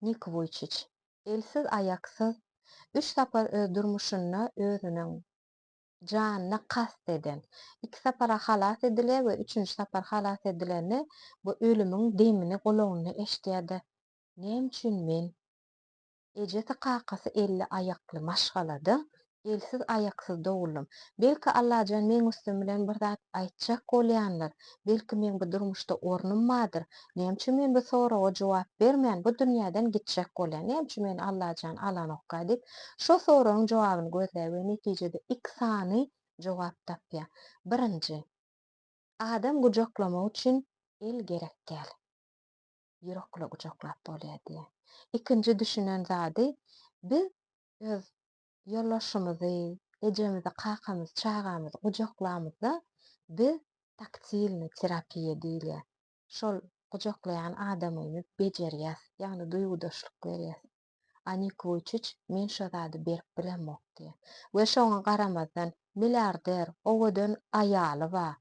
Nik Wuýçiç, elsiz-aýaksyz, üç sapar öz durmuşynda özüniň janyna kast eden, iki sapar-a halas edilýär we üçünji sapar halas edilende bu ölümiň demini gulagynda eşidýär-de, Näme üçin men? Ejesi-kakasy elli aýakly maşgalada Elsiz aýaksyz doguldym. Belki Allajan meň üstüm bilen bir zat aýtjak bolýandyr, belki meň bu durmuşda ornum bardyr, näme üçin men bu soraga jogap bermän bu dünýäden gitjek bolýan, näme üçin meni Allajan alanokka diýip şo soragyň jogabyny gözleýär we netijede iki sany jogap tapýar. Birinji. Adam gujaklamak üçin el gerek däl. Ýürekle gujaklap bolýar diýýär. Ikinji düşünen zady biz öz Ýolbaşçymyzy, ejemizi, kakamyzy, çagamyzy gujaklamyzda biz taktilnyý terapiýa diýilýär. Şol gujaklaýan adamyny bejerýäs, ýagny duýgudaşlyk berýäs. Anik Wuýçiç men şo zady berip bilemok diýýär. We şoňa garamazdan, milliarder, owadan aýaly bar.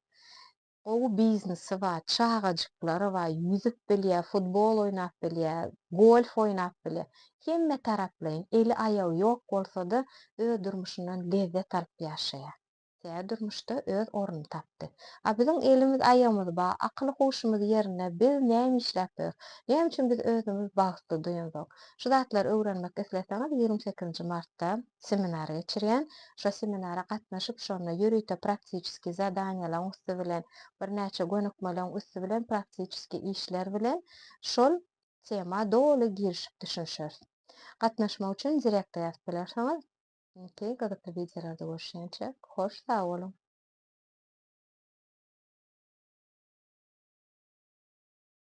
Gowy biznesi bar, çagajyklary bar, ýüzüp bilýär, futbol oýnap bilýär, golf oýnap bilýär. Hemme taraplaýyn, eli-aýagy ýok bolsa-da, öz durmuşyndan lezzet alyp ýaşaýar. Tä durmuşda öz ornuny tapdy. A biziň elimiz-aýagymyz bar, akyly-huşumyz ýerinde, biz näme işläp ýörüs? Näme üçin biz özümizi bagtly duýanzok? Şu zatlary öwrenmek isleseňiz, ýigrimi sekizinji martda seminar geçirýän. Şo seminara gatnaşyp, şonda ýörite praktiçeskiý zadaniýalaň üsti bilen, birnäçe gönükmeleň üsti bilen praktiçeskiý işler bilen şol tema doly girişip düşünişeris. Gatnaşmak üçin direkta ýazyp bilersiňiz. Iňki gyzykly wideolarda görüşýänçä, hoş sag boluň!